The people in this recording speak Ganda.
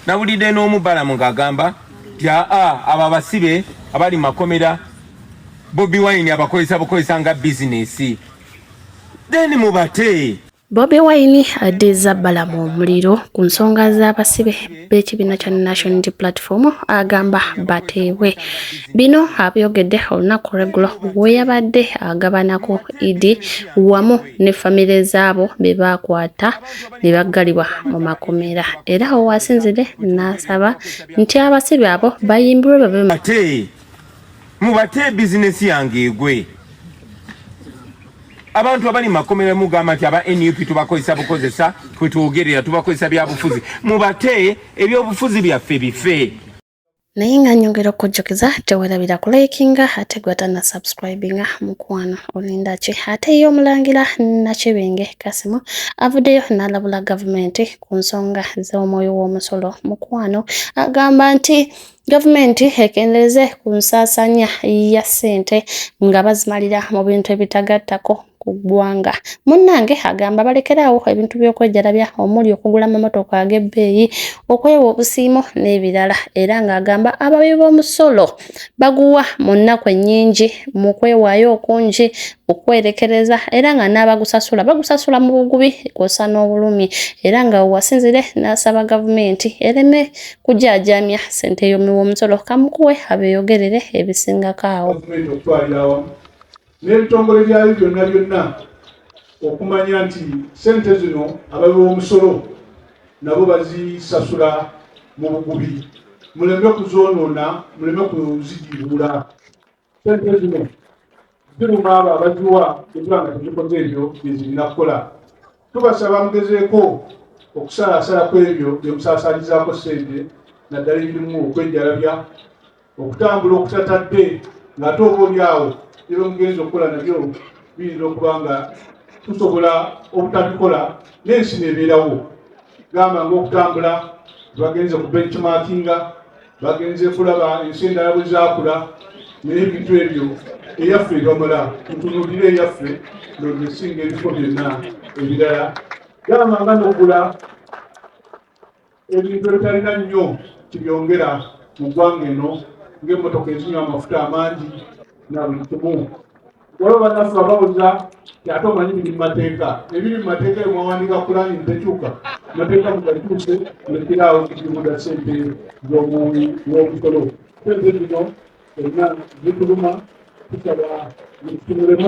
nawulidde n'omu balamu ng'agamba nti aa abo abasibe abali mu makomera bobi wine abakozesa bukozesa nga bizinesi then mubate bobi wine addiza balamu omuliro ku nsonga z'abasibe b'ekibiina kya national platform agamba bateebwe bino abyogedde olunaku lweggulo we yabadde agabanako idi wamu ne famire zaabo be baakwata ne baggalibwa mu makomera era awo wasinzire n'asaba nti abasibe abo bayimbirwe babe ate mubate bizinesi yange egwe abantu abali makomera mugamba nti aba nup tubakozesa bukozesa twetwogerera tubakozesa byabufuzi mubate ebyobufuzi byaffe bife naye nga nyongera okujjukiza tewerabira ku likinga ate gwata na subscribinga mukwano olinda ki ate ye omulangira nakibinge kasimu avuddeyo n'alabula gavumenti ku nsonga z'omwoyo w'omusolo mukwano agamba nti gavumenti ekendeeze ku nsaasaanya ya ssente nga bazimalira mu bintu ebitagattako ku ggwanga munnange agamba balekeraawo ebintu by'okwejalabya omuli okugula amamotoka ag'ebbeeyi okwewa obusiimo n'ebirala era ng'agamba abawi b'omusolo baguwa mu nnaku ennyingi mu kwewaayo okungi okwerekereza era nga n'abagusasula bagusasula mu bugubi kwosa n'obulumi era nga wasinzire n'asaba gavumenti ereme kujaajamya ssente y'omuwi w'omusolo kamukuwe abeeyogerere ebisingako awo n'ebitongole byayo byonna byonna okumanya nti sente zino abawi b'omusolo nabo bazisasula mu bugubi muleme kuzoonoona muleme kuzigibuula sente zino ziruma abo abaziwa ekiba nga tezikoze ebyo byezirina kukola Tubasaba mugezeeko okusalaasala ku ebyo bye musaasaanyizaako ssente naddala ebirimu okwejjalabya, okutambula okutatadde ng'ate oboolyawo ne bye mugenze okukola nabyo biyinza okuba nga tusobola obutabikola n'ensi n'ebeerawo gamba ng'okutambula gye bagenze ku benchmarkinga bagenze kulaba ensi endala bwe zaakula naye ebintu ebyo eyaffe ebamala mutunuulire eyaffe nonesinga ebifo byonna ebirala gamba nga nokula ebintu ebitalina nnyo kibyongera mu ggwanga eno ng'emmotoka ezinywa amafuta amangi na buli kimu waliwo bannaffe abawulira ate omanyi biri mu mateeka ebiri mu mateeka eyo mwawandiika kulani ntekyuka mateeka mugalituuse nekiraawo kikibuda sente zomuwi womusolo sente zino erina zituluma tusaba zikitunulemu